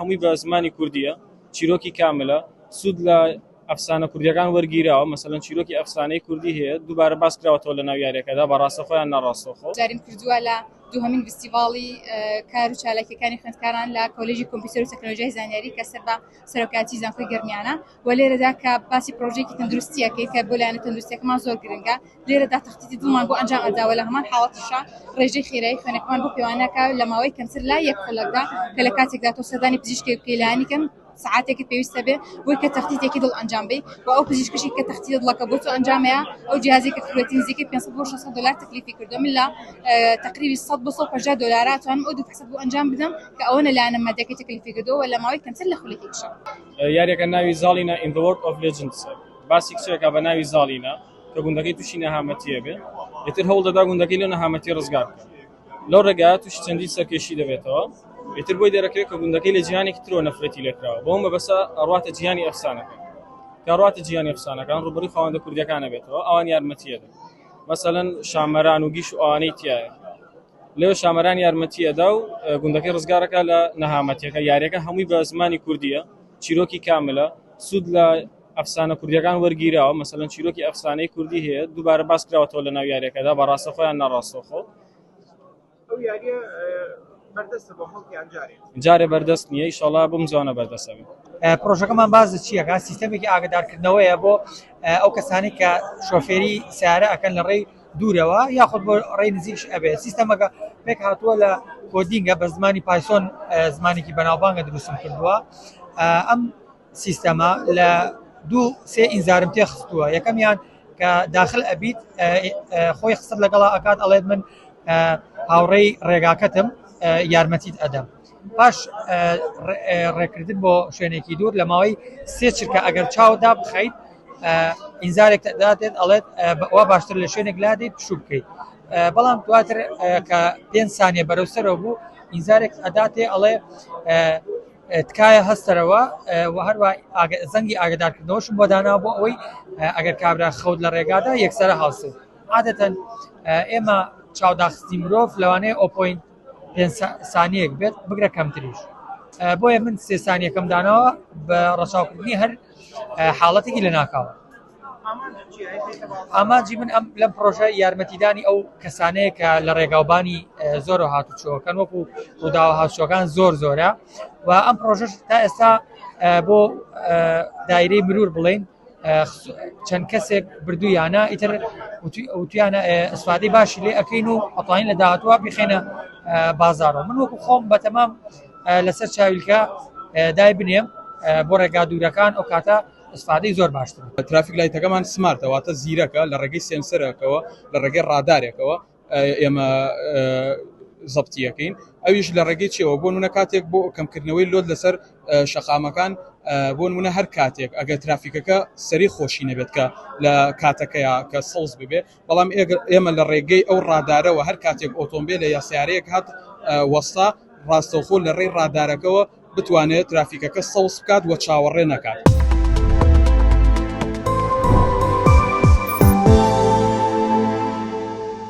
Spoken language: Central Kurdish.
هەمووی بە زمانی کوردییە، چیرۆکی کاملە، سوود لە ئەفسانە کوردییەکان وەرگیراوە، مەسەلەن چیرۆکی ئەفسانەی کوردی هەیە دووبارە باس کراوەتەوە لە ناو یارییەکەدا بە ڕاستەخۆ یان ناڕاستەوخۆ. جاریم کردووە لە دووهەمین ڤستیڤاڵی کار و چالاکییەکانی خوێندکاران لە کۆلێژی کۆمپیوتەر و تەکنەلۆژیای زانیاری کە سەر بە سەرۆکایەتیی زانکۆی گەرمیانە، وە لێرەدا کە باسی پرۆژەیەکی تەندروستی ئەکەیت کە بۆ لایەنە تەندروستیەکەمان زۆر گرنگە لێرەدا تەختیتی دڵمان بۆ ئەنجام ئەداوە لە هەمان حاڵەتیشا ڕێژەی خێرایی خوێنەکەمان بۆ پێوانەکە لە ماوەی کەمتر لە یەک خولەکدا کە لە کاتێکدا تۆ سەردانی پزیشکێک بکەی لانی کەم سەعاتێکت پێویستە بێ بۆی کە تەختیتێکی دڵ ئەنجام بی و ئەو پزیشکشی کە تەختیتە دڵەکە بۆ تۆ ئەنجامەیە ئەو جیازی کە فرۆتی نزیکەی 500 بۆ 600 دلار تەکلیفی کردو من لە تەقریبی 100 بۆ 150 دلارا توانم ئەو دوو فحسەت بۆ ئەنجام بدەم کە ئەوەنە لایەنە مادیەکەی تەکلیفی کردوە وە لە ماوەی کەمتر لە خولەکێکشا یاریەکە ناوی زاڵینە in the world of legends باسی کچێکە بە ناوی زاڵینە کە گوندەکەی تووشی نەهامەتیە بێ ئیتر هەوڵ دەدا گوندەکەی لە نەهامەتی ڕزگار بکە لەو ڕێگا تووشی چەندی سەرکێشی دەبێتەوە ئیتر بۆی دەرەکەوێت کە گوندەکەی لە جیهانێکی ترۆ نەفرەتی لێکراوە بۆم بە بەسە ئەڕاتە جیهانی ئەفسانەکە کاڕاتە جیهانی ئەفسانەکان ڕوبەری خاوەندە کوردەکانە بێتەوە ئەوان یارمەتیەدە مەسەەن شامەران و گیش و ئەوانەی تایە لێو شامەران یارمەتی ئەدا و گوندەکەی ڕزگار ئەکا لە نەهامەتیەکە، یاریەکە هەمووی بە زمانی کوردیە، چیرۆکی کاملە، سوود لە ئەفسانە کوردیەکان وەرگیراوە، مەسەلەن چیرۆکی ئەفسانەی کوردی هەیە دووبارە باس کراوەتەوە لەناو یاریەکەدا بە ڕاستەخۆ یان ناڕاستەوخۆ. ئەو یاریە بەردەستە بۆ خەڵک یان جارێ؟ جارێ بەردەست نیە، ئیشاڵا بمزوانە بەردەست ئەبێ. پڕۆژەکەمان باس لە چی ئەکات؟ سیستەمێکی ئاگەدارکردنەوەیە بۆ ئەو کەسانەی کە شۆفێری سەیارە ئەکەن لە ڕێی. دوورەوە یاخود بۆ ڕێی نزیکش ئەبێت سیستەمەکە پێک هاتووە لە کۆدینگە بە زمانی پایسۆن زمانێکی بەناوبانگە دروستم کردووە ئەم سیستەمە لە دوو سێ ئینزارم تێ خستووە یەکەمیان کە داخل ئەبیت خۆی خستت لەگەڵا ئەکات ئەڵێت من هاوڕێی ڕێگاکەتم یارمەتیت ئەدەم پاش ڕێکردن بۆ شوێنێکی دوور لە ماوەی سێ چرکە ئەگەر چاو دابخەیت ئینزارێک دادێت ئەڵێت وا باشتر لە شوێنێک لادەیت پشوو بکەیت بەڵام دواتر کە پێنج سانیە بەرەو سەرەوە بوو ئینزارێک ئەداتێ ئەڵێ تکایە هەستەرەوە و هەروە زەنگی ئاگدارکردنەوەشم بۆ دانا بۆ ئەوەی ئەگەر کابرا خەوت لە ڕێگادا یەکسەرە هەڵسێت عادەتەن ئێمە چاوداخستی مرۆڤ لەوانەیە ئۆپۆین پێنج سانیەک بێت بگرە کەمتریش بۆیە من سێ سانیەکەم داناوە بە ڕەچاوکردنی هەر حاڵەتێکی لە ناکاوە ئامانجی من ئەم لەم پرۆژە یارمەتیدانی ئەو کەسانەیە کە لە ڕێگاوبانی زۆر هاتوچۆکەن وەکو ڕووداوە هاوچۆکان زۆر زۆرە و ئەم پرۆژش تا ئێستا بۆ دایرەی مرور بڵین چەند کەسێک بردوویانە ئیتر وتیانە ئەسفادەی باشی لێ ئەەکەین و ئەتوانین لە داهاتوە بخێنە بازارەوە من وەکو خۆم بەتەمام لەسەر چاویلکە دای بنێم بۆ ڕێگا دوورەکان ئەو کاتە ئەسفادەی زۆر باشتر ترافیک لایتەکەمان سمارتەواتە زیرەکە لە ڕێگەی سێنسەرەکەەوە لە ڕێگەی ڕادارێکەوە ئێمە زەبتیەکەین ئەویش لە ڕێگەی چێەوە بۆ نە کاتێک بۆ کەمکردنەوەی لۆت لەسەر شەقامەکان بۆ نە هەر کاتێک ئەگەر ترافیکەکە سەری خۆشی نەبێت کە لە کاتەکەی کە سەوز ببێ بەڵام ئێمە لە ڕێگەی ئەو ڕادارەوە هەر کاتێک ئۆتۆمبیل لە یاسیارەیەک هات وەستا ڕاستەوخۆ لە ڕێی ڕادارەکەەوە بتوانێت ترافیکەکە سەوز بکات وە چاوەڕێ نەکات.